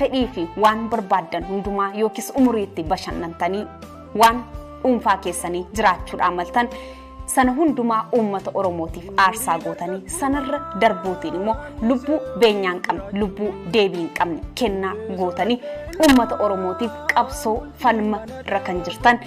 fedhii fi waan barbaaddan hundumaa yookiis umurii itti bashannantanii waan dhuunfaa keessanii jiraachuudhaan maltan sana hundumaa uummata oromootiif aarsaa gootanii sanarra darbuutiin immoo lubbuu beenyaa hin qabne lubbuu deebii hin qabne kennaa gootanii uummata oromootiif qabsoo falma irra kan jirtan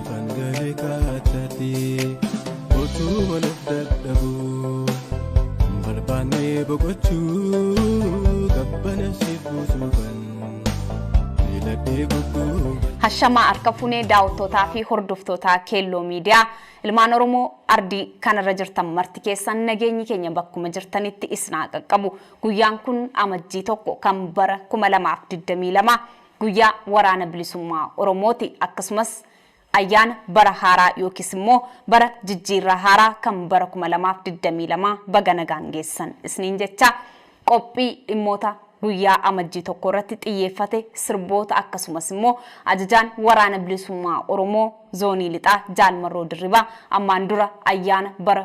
Ifan gale kaatati otuu wal of dadhabu barbaannee boqochuu gabbana si buusuufan filadhee gubbuu. Hashamaa harka funee daawwattootaa fi hordoftootaa keelloo miidiyaa ilmaan Oromoo ardii kanarra jirtan marti keessan nageenyi keenya bakkuma jirtanitti isin haa qaqqabu. Guyyaan kun amajjii tokko kan bara 2022 guyyaa waraana bilisummaa Oromooti akkasumas ayyaana bara haaraa yookiis immoo bara jijjiirraa haaraa kan bara 2022 baga nagaan geessan isniin jechaa qophii dhimmoota guyyaa amajjii tokko irratti xiyyeeffate sirboota akkasumas immoo ajajaan waraana bilisummaa Oromoo zoonii lixaa Jaal Marroo Dirribaa ammaan dura ayyaana bara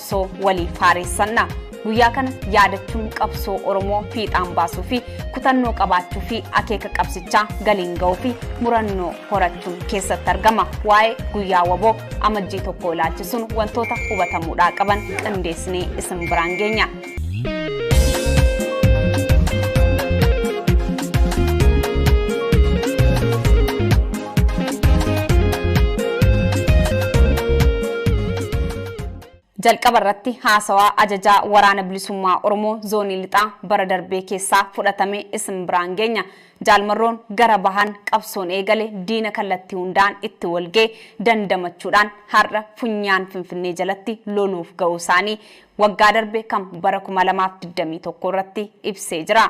qabsoo waliif haareessanna. Guyyaa kana yaadachuun qabsoo Oromoo fiixaan baasuu fi kutannoo qabaachuu fi akeeka qabsichaa galiin ga'uu fi murannoo horachuun keessatti argama. Waa'ee guyyaa waboo amajjii tokko ilaalchisuun wantoota hubatamuudhaa qaban qindeessinee isin biraan geenya. Jalqaba irratti haasawaa Ajajaa Waraana Bilisummaa Oromoo Zoonii Lixaa bara darbee keessaa fudhatame isin biraan geenya. Jaal Marroon gara bahaan qabsoon eegale diina kallattii hundaan itti walga'e dandamachuudhaan har'a funyaan Finfinnee jalatti loluuf ga'uu isaanii waggaa darbe kan bara 2021 irratti ibsee jira.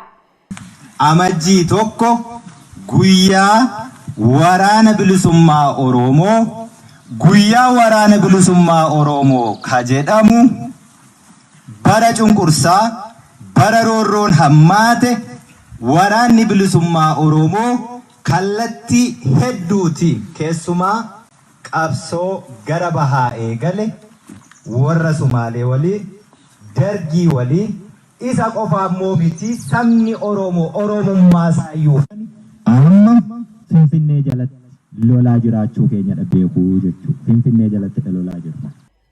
Amajjii 1 Guyyaa waraana bilisummaa Oroomoo Guyyaa waraana bilisummaa Oroomoo ka jedhamu bara cunqursaa, bara roorroon hammaate waraanni bilisummaa Oroomoo kallattii hedduutiin keessumaa qabsoo gara bahaa eegale, worra Sumaalee waliin, Dargii waliin, Isa qofa ammoo miti sabni Oromoo Oromummaa isaayyuu kan amma Finfinnee jalatti lolaa jiraachuu keenyadha beeku jechuudha. Finfinnee jalattidha lolaa jirru.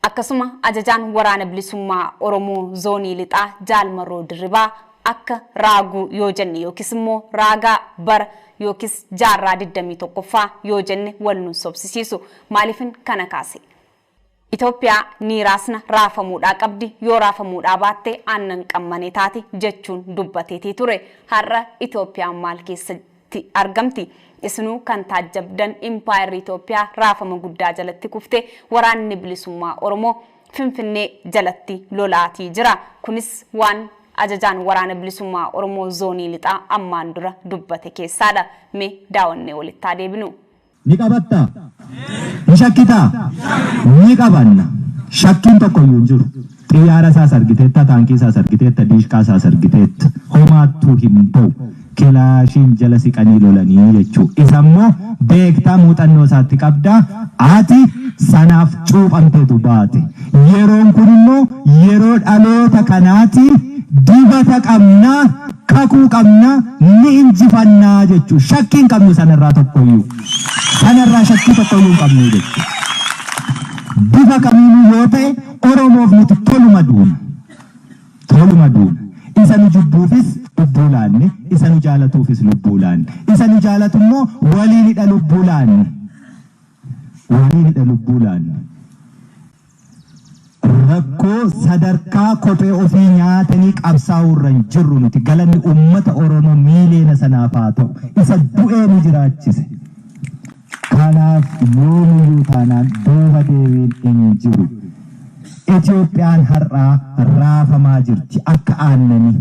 Akkasuma Ajajaan Waraana Bilisummaa Oromoo Zoonii Lixaa Jaal Marroo Dirribaa akka raaguu yoo jenne yookis immoo raagaa bara yookis jaarraa 21ffaa yoo jenne wal nun sobsisiisu. Maaliifin kana kaase? Itoophiyaa ni raasna, raafamuudhaa qabdi, yoo raafamuudhaa baatte aannan qammane taati jechuun dubbateetii ture. Har'a Itoophiyaan maal keessatti argamti? Isinuu kan taajjabdan Impaayerri Itoophiyaa raafama guddaa jalatti kufte, Waraanni Bilisummaa Oromoo Finfinnee jalatti lolaatii jira. Kunis waan Ajajaan Waraana Bilisummaa Oromoo Zoonii Lixaa ammaan dura dubbate keessaadha. Mee daawannee walitti haa deebinu. Ni qabattaa? Ni shakkitaa? Ni qabanna. Shakkiin tokkoyyuu hin jiru. Xiyyaara isaas argiteetta, taankii isaas argiteetta, diishqaa isaas argiteetta. Homaattuu hin ba'u. Kilaashiin jala siqanii lolanii jechuu. Isa immoo beektaa muuxannoo isaatti qabdaa. Ati sanaaf cuuphamteetu baate. Yeroon kun immoo yeroo dhaloota kanaati, dibata qabna, kakuu qabna, ni injifanna jechuudha. Shakkii hin qabnu sanarraa tokkoyyuu. Sanarraa shakkii tokkoyyuu hin qabnu jechuudha. Bifa kamiinuu yoo ta'e Oromoof nuti toluma duuna. Toluma duuna. Isa nu jibbuufis lubbuu laanne, isa nu jaalatuufis lubbuu laanne. Isa nu jaalatu immoo waliinidha lubbuu laanne. Waliin hidha lubbuu laanne. Rakkoo sadarkaa kophee ofii nyaatanii qabsaa'uu irra hin jirru nuti. Galanni uummata Oromoo miiliyoona sanaaf haa ta'u. Isa du'ee nu jiraachise. Kanaaf yoomiyyuu taanaan duuba deebiin hin jiru. Itoophiyaan har'aa raafamaa jirti akka aannanii.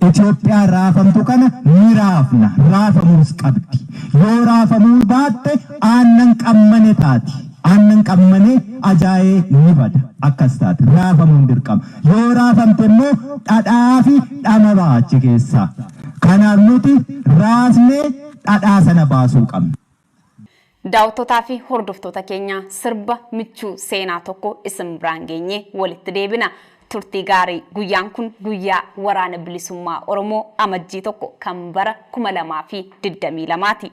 Itoophiyaan raafamtu kana ni raafna, raafamuus qabdi. Yoo raafamuu baatte aannan qammane taati. Aannan qammane ajaa'ee ni bada. Akkas taati. Raafamuun dirqama. Yoo raafamte immoo dhadhaa fi dhama ba'a achi keessaa. Kanaaf nuti raasnee dhadhaa sana baasuu qabna. Daawattotaa fi hordoftoota keenya sirba michuu seenaa tokko isin biraan geenyee walitti deebina. Turtii gaarii! Guyyaan kun guyyaa Waraana Bilisummaa Oromoo Amajjii 1 kan bara 2022 ti.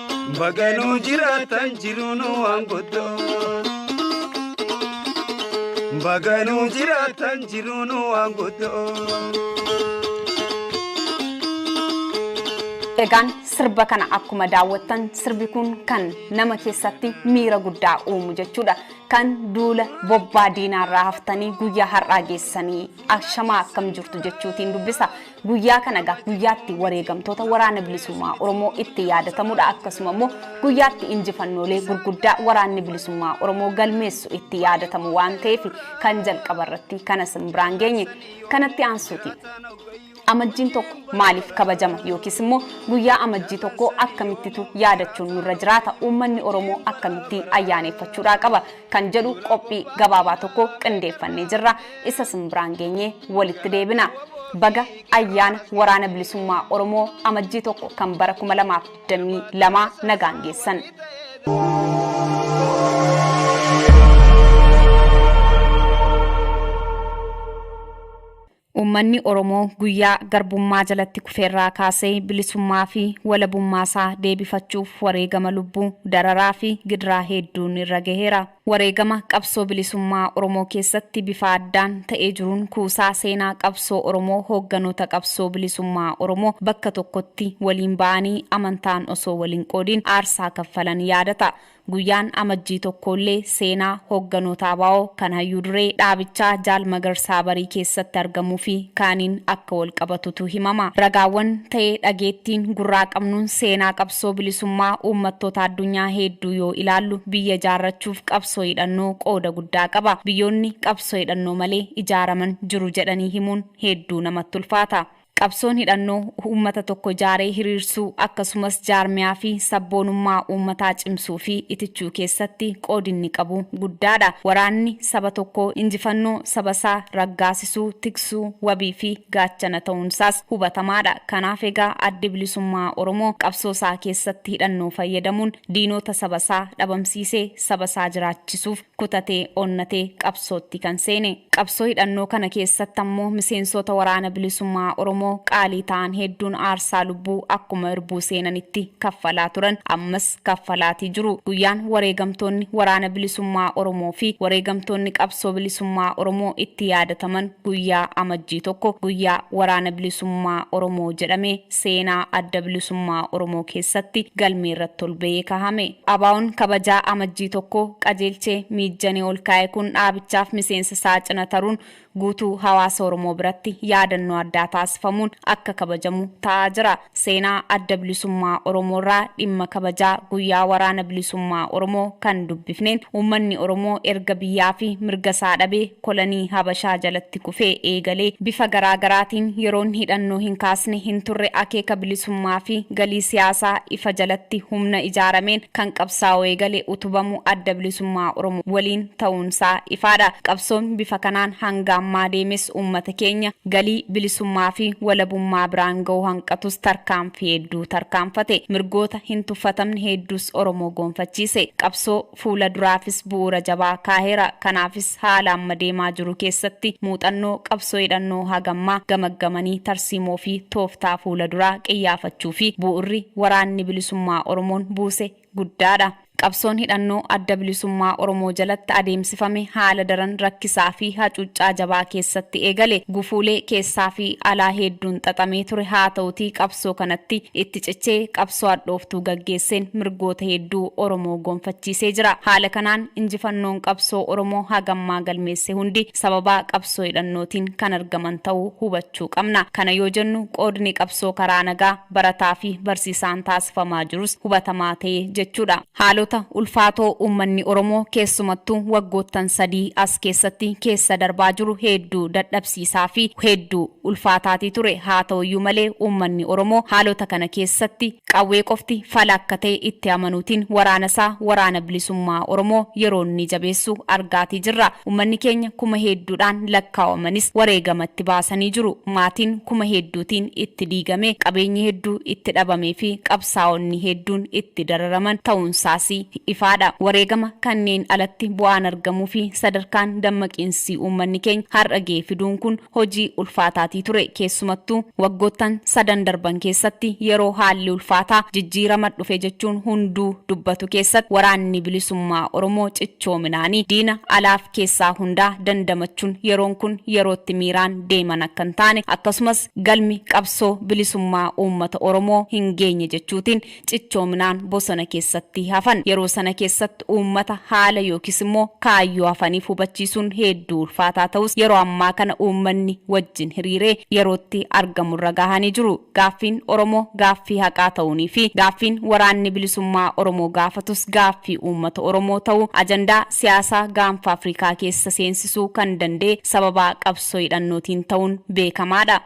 Baganuu jiraatan jiruun waan guddoo. Baganuu jiraatan jiruun waan guddoo. Egaan sirba kana akkuma daawwattan sirbi kun kan nama keessatti miira guddaa uumu jechuudha. Kan duula bobbaa diinaarraa haftanii guyyaa har'aa geessanii ashamaa akkam jirtu jechuutiin dubbisa. Guyyaa kana egaa guyyaa itti wareegamtoota waraana bilisummaa Oromoo itti yaadatamudha akkasuma immoo guyyaa itti injifannoolee gurguddaa waraanni bilisummaa Oromoo galmeessu itti yaadatamu waan ta'eef kan jalqaba irratti kana sin biraan geenye kanatti aansuuti. Amajjiin tokko maaliif kabajama yookiis immoo guyyaa amajjii tokko akkamittitu yaadachuun nurra jiraata uummanni Oromoo akkamitti ayyaaneffachuudhaa qaba kan jedhu qophii gabaabaa tokko qindeeffannee jirra isa sin biraan geenye walitti deebina baga ayyaana waraana bilisummaa oromoo amajjii tokko kan bara 2022 nagaan geessan. Uummanni Oromoo guyyaa garbummaa jalatti kufe irraa kaasee bilisummaa fi walabummaa isaa deebifachuuf wareegama lubbuu, dararaa fi gidiraa heedduun irra gaheera. Wareegama qabsoo bilisummaa Oromoo keessatti bifa addaan ta'ee jiruun kuusaa seenaa qabsoo Oromoo hoogganoota qabsoo bilisummaa Oromoo bakka tokkotti waliin ba'anii amantaan osoo wal hin qoodiin aarsaa kaffalan yaadata. Guyyaan Amajjii tokkoollee seenaa hoogganoota abo kan Hayyuu Duree dhaabichaa Jaal Magarsaa Barii keessatti argamuufi kaaniin akka walqabatutu himama. Ragaawwan ta'ee dhageettiin gurraa qabnuun seenaa qabsoo bilisummaa uummattoota addunyaa heedduu yoo ilaallu biyya ijaarrachuuf qabsoo hidhannoo qooda guddaa qaba. Biyyoonni qabsoo hidhannoo malee ijaaraman jiru jedhanii himuun heedduu namatti ulfaata. Qabsoon hidhannoo uummata tokko ijaaree hiriirsuu akkasumas jaarmiyaa fi sabboonummaa uummataa cimsuu fi itichuu keessatti qoodi inni qabu guddaa dha. Waraanni saba tokkoo injifannoo saba isaa raggaasisuu, tiksuu, wabii fi gaachana ta'uun isaas hubatamaa dha. Kanaaf egaa Addi Bilisummaa Oromoo qabsoo isaa keessatti hidhannoo fayyadamuun diinoota saba isaa dhabamsiisee saba isaa jiraachisuuf, kutatee onnatee qabsootti kan seene. Qabsoo hidhannoo kana keessatti ammoo miseensoota Waraana Bilisummaa Oromoo qaalii ta'an hedduun aarsaa lubbuu akkuma irbuu seenanitti kaffalaa turan, ammas kaffalaatii jiru. Guyyaan wareegamtoonni Waraana Bilisummaa Oromoo fi wareegamtoonni Qabsoo Bilisummaa Oromoo itti yaadataman guyyaa Amajjii 1, guyyaa Waraana Bilisummaa Oromoo jedhamee seenaa Adda Bilisummaa Oromoo keessatti galmee irratti ol ba'ee kahame. ABOn kabajaa Amajjii 1 qajeelche miijjanee ol kaa'e kun dhaabichaaf miseensa isaa cina taruun guutuu hawaasa Oromoo biratti yaadannoo addaa taasifamuun akka kabajamu ta'aa jira. Seenaa Adda Bilisummaa Oromoo irraa dhimma kabajaa guyyaa Waraana Bilisummaa Oromoo kan dubbifneen uummanni Oromoo erga biyyaa fi mirga isaa dhabee kolonii Habashaa jalatti kufee eegalee bifa garaa garaatiin yeroon hidhannoo hin kaasne hin turre akeeka bilisummaa fi galii siyaasaa ifa jalatti humna ijaarameen kan qabsaa'uu eegale utubamuu Adda Bilisummaa Oromoo waliin ta'uun isaa ifaa dha. Qabsoon bifa kanaan hanga ammaa deemes uummata keenya galii bilisummaa fi walabummaa biraan ga'uu hanqatus tarkaanfii hedduu tarkaanfate. Mirgoota hin tuffatamne hedduus Oromoo goonfachiise. Qabsoo. Fuula duraafis bu'uura jabaa kaaheera. Kanaafis haala amma deemaa jiru keessatti muuxannoo qabsoo hidhannoo hagammaa gamaggamanii tarsiimoo fi tooftaa fuula duraa qiyyaafachuu fi bu'urri Waraanni Bilisummaa Oromoon buuse guddaa dha. Qabsoon hidhannoo Adda Bilisummaa Oromoo jalatti adeemsifame haala daran rakkisaa fi hacuuccaa jabaa keessatti eegale. Gufuulee keessaa fi alaa heedduun xaxamee ture. Haata'utii qabsoo kanatti itti cichee qabsoo hadhooftuu gaggeesseen mirgoota hedduu Oromoo gonfachiisee jira. Haala kanaan injifannoon qabsoo Oromoo haga ammaa galmeesse hundi sababaa qabsoo hidhannootiin kan argaman ta'uu hubachuu qabna. Kana yoo jennu qoodni qabsoo karaa nagaa barataafi barsiisaan taasifamaa jirus hubatamaa ta'ee jechuudha. Haalota ulfaatoo uummanni Oromoo keessumattuu waggoottan sadii as keessatti keessa darbaa jiru heedduu dadhabsiisaa fi heedduu ulfaataatii ture. Haa ta'uyyuu malee uummanni Oromoo haalota kana keessatti qawwee qofti fala akka ta'e itti amanuutiin waraana isaa Waraana Bilisummaa Oromoo yeroo inni jabeessu argaatii jirra. Uummanni keenya kuma heedduudhaan lakkaawamanis wareegama itti baasanii jiru. Maatiin kuma heedduutiin itti diigamee, qabeenyi hedduu itti dhabamee fi qabsaa'onni hedduun itti dararaman ta'uunsaas ifaadha. Wareegama kanneen alatti bu'aan argamuufi sadarkaan dammaqiinsi uummanni keenya har'a ga'e fiduun kun hojii ulfaataatii ture. Keessumattuu waggoottan sadan darban keessatti yeroo haalli ulfaataa jijjiirama dhufe jechuun hunduu dubbatu keessatti Waraanni Bilisummaa Oromoo cichoominaani diina alaaf keessaa hundaa dandamachuun yeroon kun yerootti miiraan deeman akka hin taane akkasumas galmi qabsoo bilisummaa uummata Oromoo hin geenye jechuutiin cichoominaan bosona keessatti hafan. Yeroo sana keessatti uummata haala yookis immoo kaayyoo hafaniif hubachiisuun heedduu ulfaataa ta'us yeroo ammaa kana uummanni wajjin hiriiree yerootti argamurra gahanii jiru. Gaaffiin Oromoo gaaffii haqaa ta'uunii fi gaaffiin waraanni bilisummaa Oromoo gaafatus gaaffii uummata Oromoo ta'uu ajandaa siyaasaa gaanfa Afrikaa keessa seensisuu kan danda'e sababaa qabsoo qabsoo hidhannootiin ta'uun beekamaadha.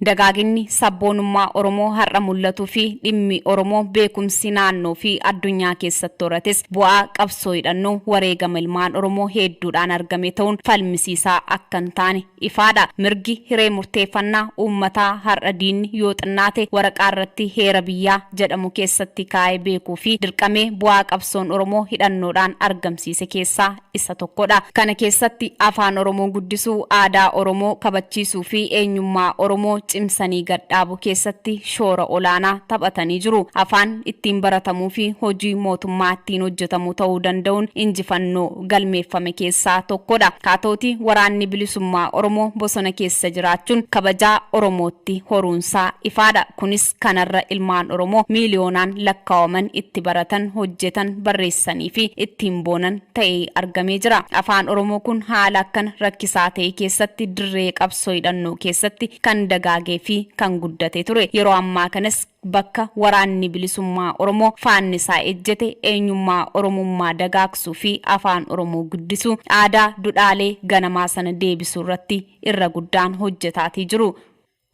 Dagaaginni sabboonummaa Oromoo har'a mul'atuu fi dhimmi Oromoo beekumsi naannoo fi addunyaa keessatti horates bu'aa qabsoo hidhannoo wareegama ilmaan Oromoo heedduudhaan argame ta'uun falmisiisaa akka hin taane ifaadha. Mirgi hiree murteeffannaa uummataa har'a diinni yoo xinnaate waraqaa irratti heera biyyaa jedhamu keessatti kaa'ee beekuu fi dirqamee bu'aa qabsoon Oromoo hidhannoodhaan argamsiise keessaa isa tokkodha. Kana keessatti Afaan Oromoo guddisuu, aadaa Oromoo kabachiisuu fi eenyummaa Oromoo cimsanii gad dhaabuu keessatti shoora olaanaa taphatanii jiru. Afaan ittiin baratamuu fi hojii mootummaa ittiin hojjetamu ta'uu danda'uun injifannoo galmeeffame keessaa tokkodha. Haa ta'utii Waraanni Bilisummaa Oromoo bosona keessa jiraachuun kabajaa Oromootti horuunsaa ifaadha. Kunis. kanarra ilmaan Oromoo miiliyoonaan lakkaawaman itti baratan, hojjetan, barreessaniifi ittiin boonan ta'ee argamee jira. Afaan Oromoo kun haala akkana rakkisaa ta'e keessatti dirree qabsoo hidhannoo keessatti kan dagaageefi kan guddate ture. Yeroo ammaa kanas bakka Waraanni Bilisummaa Oromoo faannisaa ejjete eenyummaa Oromummaa dagaagsuufi Afaan Oromoo guddisuu, aadaa, dudhaalee ganamaa sana deebisuurratti irra guddaan hojjetaatii jiru.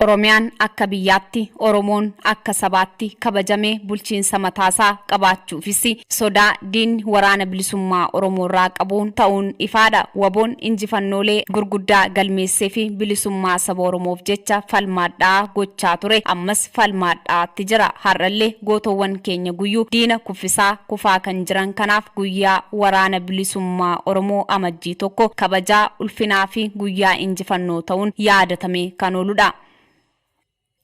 Oromiyaan akka biyyaatti, Oromoon akka sabaatti kabajamee bulchiinsa mataasaa qabaachuufis sodaa diinni Waraana Bilisummaa Oromoorraa qabu ta'uun ifaadha. Waboon injifannoolee gurguddaa galmeesseefi bilisummaa saba Oromoof jecha falma hadhaa'aa gochaa ture ammas falma hadhaa'aatti jira. Har'allee gootowwan keenya guyyuu diina kuffisaa, kufaa kan jiran kanaaf guyyaa Waraana Bilisummaa Oromoo Amajjii 1 kabajaa ulfinaa fi guyyaa injifannoo ta'uun yaadatamee kan oolu dha.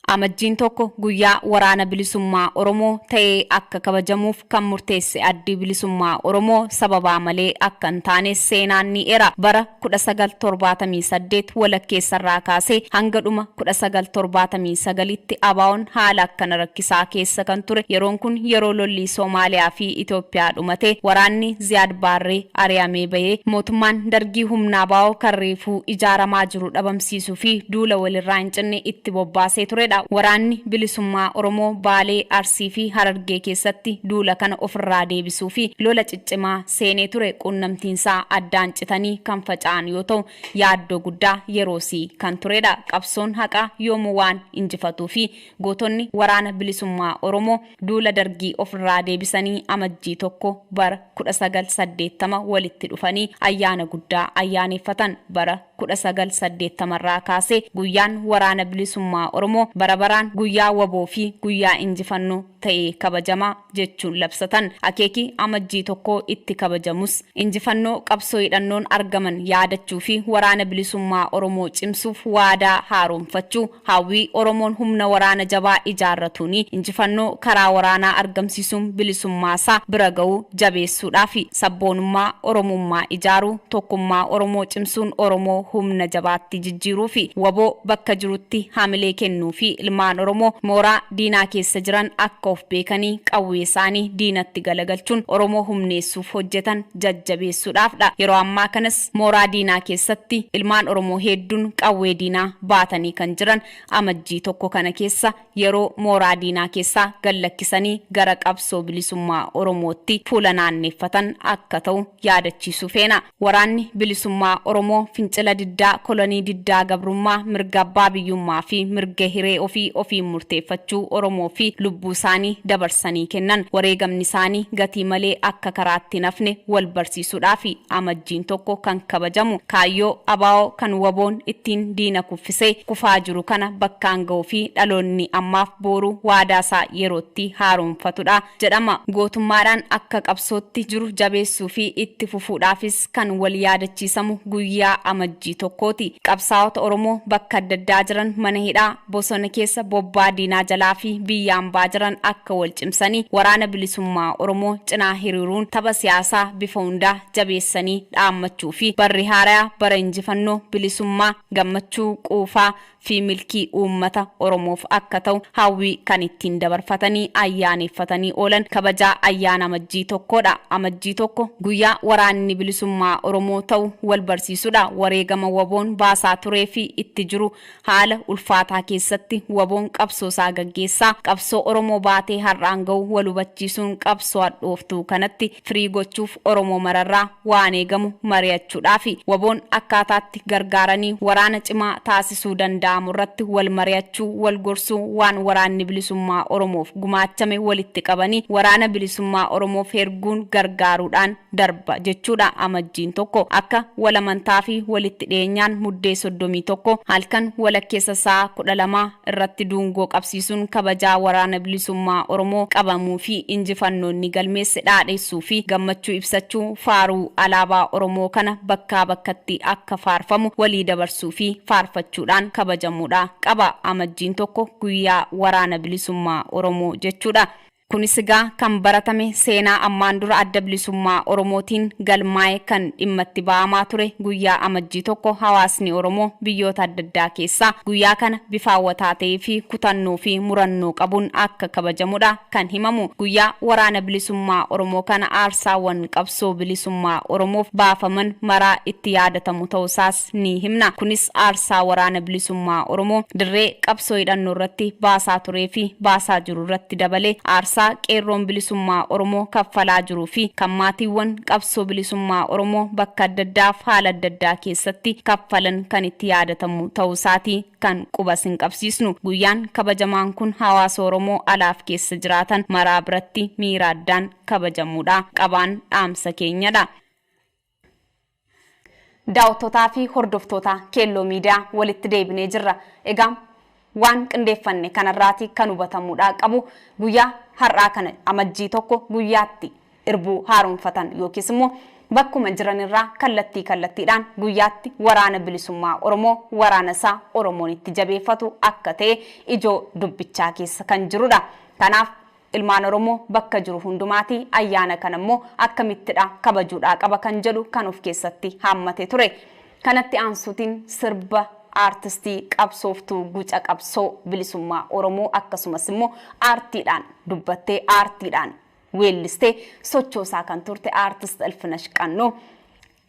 Amajjiin 1 guyyaa Waraana Bilisummaa Oromoo ta'ee akka kabajamuuf kan murteesse Addi Bilisummaa Oromoo sababaa malee akka hin taanes seenaan ni eera. Bara. 19 78 walakkeessarraa kaasee hanga dhuma 19 79tti ABOn haala akkana rakkisaa keessa kan ture yeroon kun yeroo lolli Somaaliyaa fi Itoophiyaa dhumatee waraanni Ziyaad Baarree ari'amee bahee mootummaan Dargii humna ABO kan reefuu ijaaramaa jiru dhabamsiisuu fi duula walirraa hin cinne itti bobbaasee turedha. Waraanni Bilisummaa Oromoo Baalee, Arsii fi Harargee keessatti duula kana ofirraa deebisuu fi lola ciccimaa seenee ture quunnamtiinsaa addaan citanii kan faca'an yoo ta'u, yaaddoo guddaa yeroosii kan turedha. Qabsoon haqaa yoomuu waan injifatuufi gootonni Waraana Bilisummaa Oromoo duula Dargii ofirraa deebisanii Amajjii 1 bara 1980 walitti dhufanii ayyaana guddaa ayyaaneeffatan. Bara 1980 irraa kaasee guyyaan Waraana Bilisummaa Oromoo bara baraan guyyaa wbo fi guyyaa injifannoo ta'ee kabajama. jechuun labsatan. Akeeki Amajjii 1 itti kabajamus injifannoo qabsoo hidhannoon argaman yaadachuu fi Waraana Bilisummaa Oromoo cimsuuf waadaa haaromfachuu, hawwii Oromoon humna waraana jabaa ijaarratuun injifannoo karaa waraanaa argamsiisuun bilisummaa isaa bira gahu jabeessuudhaafi. Sabboonummaa Oromummaa ijaaruu, tokkummaa Oromoo cimsuun Oromoo humna jabaatti jijjiiruufi. Wbo bakka jirutti hamilee kennuu fi ilmaan Oromoo mooraa. diinaa keessa jiran akka of beekanii qawwee isaanii diinatti galagalchuun Oromoo humneessuuf hojjetan jajjabeessuudhaaf dha. Yeroo ammaa kanas mooraa diinaa keessatti ilmaan Oromoo heedduun qawwee diinaa baatanii kan jiran Amajjii 1 kana keessa yeroo mooraa diinaa keessaa gad lakkisanii gara qabsoo bilisummaa Oromootti fuula naanneeffatan akka ta'u yaadachiisuu feena. Waraanni Bilisummaa Oromoo fincila diddaa kolonii diddaa gabrummaa mirga abbaa biyyummaa fi mirga hiree ofii ofiin murteeffachuu Oromoo fi lubbuu isaanii dabarsanii kennan wareegamni isaanii gatii malee akka karaatti hin hafne wal barsiisuudhaafi Amajjiin 1 kan kabajamu kaayyoo abo kan wbo'n ittiin diina kuffisee kufaa jiru kana bakkaan ga'uu fi dhaloonni ammaaf booru waadaa isaa yerootti haaromfatudha. jedhama. Gootummaadhaan akka qabsootti jiru jabeessuu fi itti fufuudhaafis kan wal yaadachiisamu guyyaa Amajjii tokkooti. Qabsaa'ota Oromoo bakka adda addaa jiran mana hidhaa, bosona keessa, bobbaa diinaa jalaa fi biyya ambaa jiran akka wal cimsanii Waraana Bilisummaa Oromoo cinaa hiriiruun tapha siyaasaa bifa hundaa jabeessanii dhaammachuu fi barri haaraya bara injifannoo, bilisummaa, gammachuu, quufaa, fi milkii uummata Oromoof akka ta'u hawwii kan ittiin dabarfatanii ayyaaneeffatanii oolan kabajaa ayyaana Amajjii 1 dha. Amajjii 1 guyyaa waraanni bilisummaa Oromoo ta'u wal barsiisu dha. Wareegama wboon baasaa turee fi itti jiru haala ulfaataa keessatti wboon qabsoo isaa gaggeessaa qabsoo Oromoo baatee har'aan ga'u wal hubachiisuun qabsoo hadhooftuu kanatti firii gochuuf Oromoo mararraa waan eegamu mari'achuudhaafi. Waboon akkaataatti gargaaranii waraana cimaa taasisuu danda'amurratti wal mari'achuu, wal gorsuu, waan Waraanni Bilisummaa Oromoof gumaachame walitti qabanii Waraana Bilisummaa Oromoof herguun gargaaruudhaan darba jechuudha. Amajjiin 1 akka wal amantaafi walitti dhiyeenyaan Muddee 31 halkan walakkeessa sa'a 12, irratti duungoo qabsiisuun kabajaa Waraana Bilisummaa Oromoo qabamuu fi injifannoo inni galmeesse dhaadheessuu fi gammachuu ibsachuu faaruu alaabaa Oromoo kana bakkaa bakkatti akka faarfamu walii dabarsuu fi faarfachuudhaan kabajamuudha qaba. Amajjiin 1 guyyaa Waraana Bilisummaa Oromoo jechuudha. Kunis egaa kan baratame seenaa ammaan dura Adda Bilisummaa Oromootiin galmaa'e kan dhimma itti ba'amaa ture guyyaa Amajjii 1 hawaasni Oromoo biyyoota adda addaa keessaa guyyaa kana bifa hawwataa ta'ee fi kutannoo fi murannoo qabuun akka kabajamudha kan himamu. Guyyaa Waraana Bilisummaa Oromoo kana aarsaawwan qabsoo bilisummaa Oromoof baafaman maraa itti yaadatamu ta'uusaas isaas ni himna. Kunis aarsaa Waraana Bilisummaa Oromoo dirree qabsoo hidhannoo irratti baasaa turee fi baasaa jiru irratti dabalee aarsaa Qeerroon Bilisummaa Oromoo kaffalaa jiruu fi kan maatiiwwan qabsoo bilisummaa Oromoo bakka adda addaa fi haala adda addaa keessatti kaffalan kan itti yaadatamu ta'uu isaati kan quba isin qabsiisnu. Guyyaan kabajamaan kun hawaasa Oromoo alaa fi keessa jiraatan maraa biratti miira addaan kabajamuudha. Qabaan dhaamsa keenya dha. Daawattotaa fi hordoftoota Keelloo Media walitti deebinee jirra. Egaa waan qindeeffanne kanarraati kan hubatamuudhaa qabu guyyaa har'aa kana Amajjii 1 guyyaa itti irbuu haaromfatan yookiis immoo bakkuma jiranirraa kallattii kallattiidhaan guyyaatti Waraana Bilisummaa Oromoo waraana isaa Oromoon itti jabeeffatu akka ta'e ijoo dubbichaa keessa kan jirudha. Kanaaf Ilmaan Oromoo bakka jiru hundumaatii ayyaana kana immoo akkamittidha kabajuudhaa qaba kan jedhu kan of keessatti haammate ture. Kanatti aansuutiin sirba Aartistii qabsooftuu guca qabsoo bilisummaa Oromoo akkasumas immoo aartiidhaan dubbattee aartiidhaan weellistee sochoosaa kan turte Aartist Ilfinash Qannoo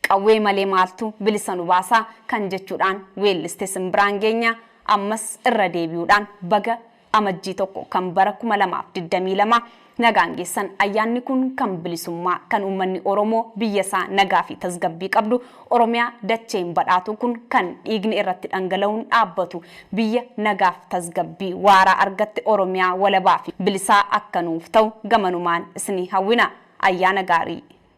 Qawwee malee maaltu bilisa nu baasa kan jechuudhaan weelliste simbiraan geenya ammas irra deebi'uudhaan baga Amajjii 1 kan bara 2022 nagaan geessan ayyaanni kun kan bilisummaa kan uummanni Oromoo biyya isaa nagaa fi tasgabbii qabdu Oromiyaa dacheen badhaatuu kun kan dhiigni irratti dhangala'uun dhaabbatu biyya nagaaf tasgabbii waaraa argatte Oromiyaa walabaa fi bilisaa akka nuuf ta'u gamanumaan isinii hawwina. Ayyaana gaarii!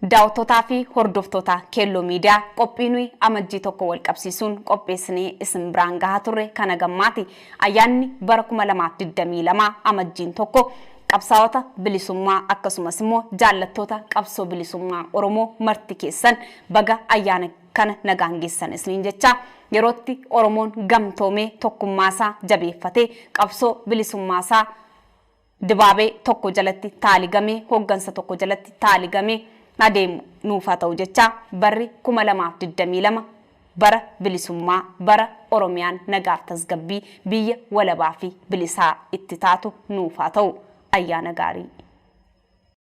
Daawattotaa fi hordoftoota Keelloo Media, qophii nuyi Amajjii 1 wal qabsiisuun qopheessinee isin biraan gahaa turre kan hagammaati. Ayyaanni bara 2022 Amajjiin 1 qabsaawota bilisummaa akkasumas immoo jaallattoota qabsoo bilisummaa Oromoo marti keessan baga ayyaana kana nagaan geessan isniin jechaa, yerootti Oromoon gamtoomee tokkummaasaa jabeeffatee qabsoo bilisummaasaa Dibaabee tokko jalatti taaligamee, hoggansa tokko jalatti taaligamee adeemu nuuf haa ta'u jechaa, barri 2022 bara bilisummaa, bara Oromiyaan nagaaf tasgabbii, biyya walabaa fi bilisaa itti taatu nuuf haa ta'u. Ayyaana gaarii!